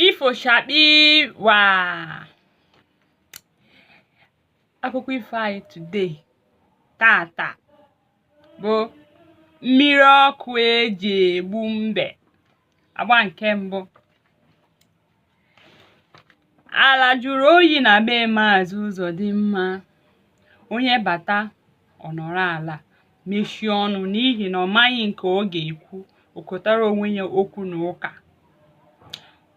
ifo chakpii waa akụkọ ifo anyị today taata bụ mmiri ọkụ eji egbu mbe agba nke mbụ Ala jụrụ oyi na be Maazị Uzodimma. Onye bata ọ nọrọ ala mechie ọnụ n'ihi na ọ maghị nke ọ ga-ekwu o kotara onwe ya okwu na ụka.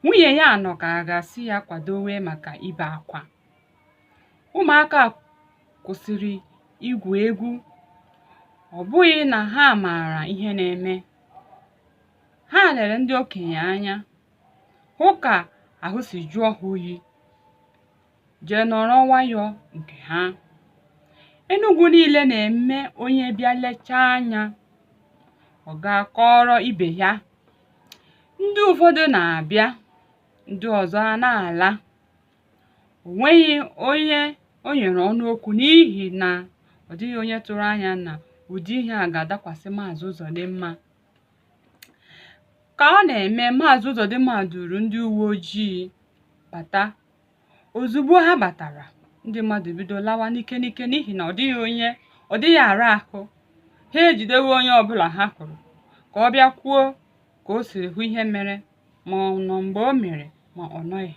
Nwunye ya nọ ka a ga-asị ya kwadowe maka ibe akwa. Ụmụaka kwụsịrị igwu egwu. Ọ bụghị na ha maara ihe na-eme. Ha lere ndị okenye anya. hụ ka ahụ si jụọ ha oyi jee nọrọ nwayọọ nke ha Enugu niile na-eme onye bịa lechaa anya ọ gaa kọọrọ ibe ya ndị ụfọdụ na-abịa ndị ọzọ a na-ala o nweghị onye o nyere ọnụ okwu n'ihi na ọ dịghị onye tụrụ anya na ụdị ihe a ga-adakwasị Maazị Uzodimma ka ọ na-eme maazị Uzodimma duru ndị uwe ojii bata ozugbo ha batara ndị mmadụ bido lawa n'ike n'ike n'ihi na ọ dịghị ara ahụ ha ejidewe onye ọbụla ha hụrụ ka ọ bịa kwuo ka o siri hụ ihe mere ma ọ nọ mgbe o mere ma ọ nọghị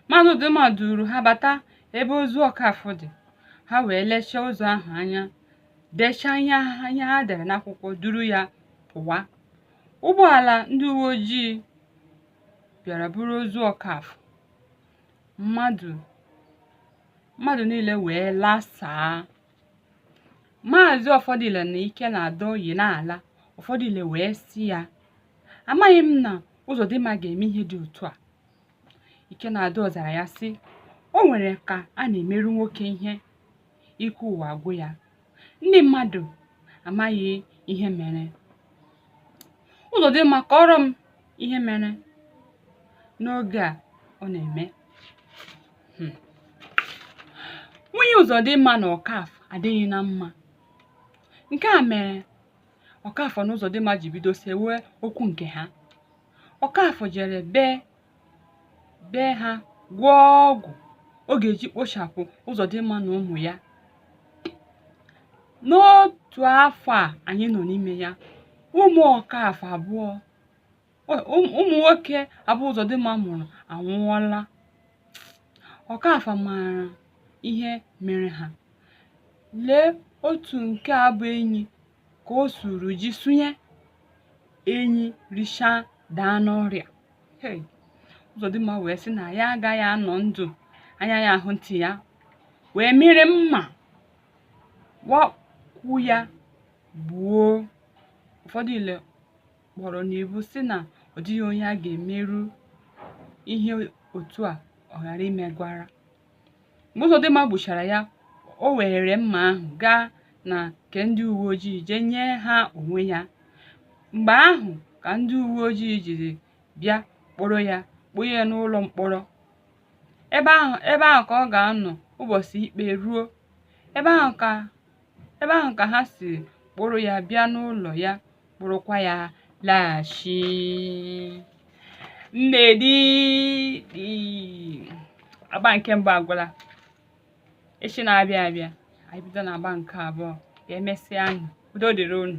maazị Uzodimma duru ha bata ebe ozu ọkafọ dị ha wee lechaa ozu ahụ anya dechaa ihe ha dere n'akwụkwọ duru ya pụwa ụgbọala ndị uwe ojii bịara buru ozu ọkafọ mmadụ niile wee lasaa maazị ọfọdile na ikenadọ yi na-ala ọfọdile wee sị ya amaghị m na ụzọdịmma ga-eme ihe dị otu a ikenadọ zara ya sị o nwere ka a na-emeru nwoke ihe ike ụwa agwụ ya ndị mmadụ amaghị ihe mere ụzọdịmma kọọrọ m ihe mere n'oge a ọ na-eme hmm. nwunye ụzọdịmma na ọkafọ adịghị na mma nke a mere ọkafọ na ụzọdịmma ji bido sewe okwu nke ha ọkafọ jere be be ha gwọọ ọgwụ ọ ga-eji kpochapụ ụzọdịmma na ụmụ ya n'otu afọ a anyị nọ n'ime ya ụmụ ọkafọ abụọ ụmụ nwoke abụọ ụzọdịmma mụrụ anwụọla ọkafọ maara ihe mere ha lee otu nke a bụ enyi ka o suru ji sunye enyi richaa daa n'ọrịa hey Uzodimma wee sị na ya agaghị anọ ndụ anya ya ahụ ntị ya wee mịrị mma wakwu ya gbuo ụfọdụ ile kpọrọ n'ibu sị na ọ dịghị onye a ga-emeru ihe otu a ọ ghara imegwara mgbe Uzodimma gbuchara ya o were mma ahụ gaa na nke ndị uwe ojii jee nye ha onwe ya mgbe ahụ ka ndị uwe ojii jiri bịa kpọrọ ya kpọnye ya n'ụlọ mkpọrọ ebe ahụ ka ọ ga-anọ ụbọchị ikpe ruo ebe ebe ahụ ka ha si kpụrụ ya bịa n'ụlọ ya kpụrụkwa ya laghachi nnedi agba nke mbụ agwụla echi na-abịa abịa anyị bido na agba nke abụọ ka emesịa anyị udo dịrị unu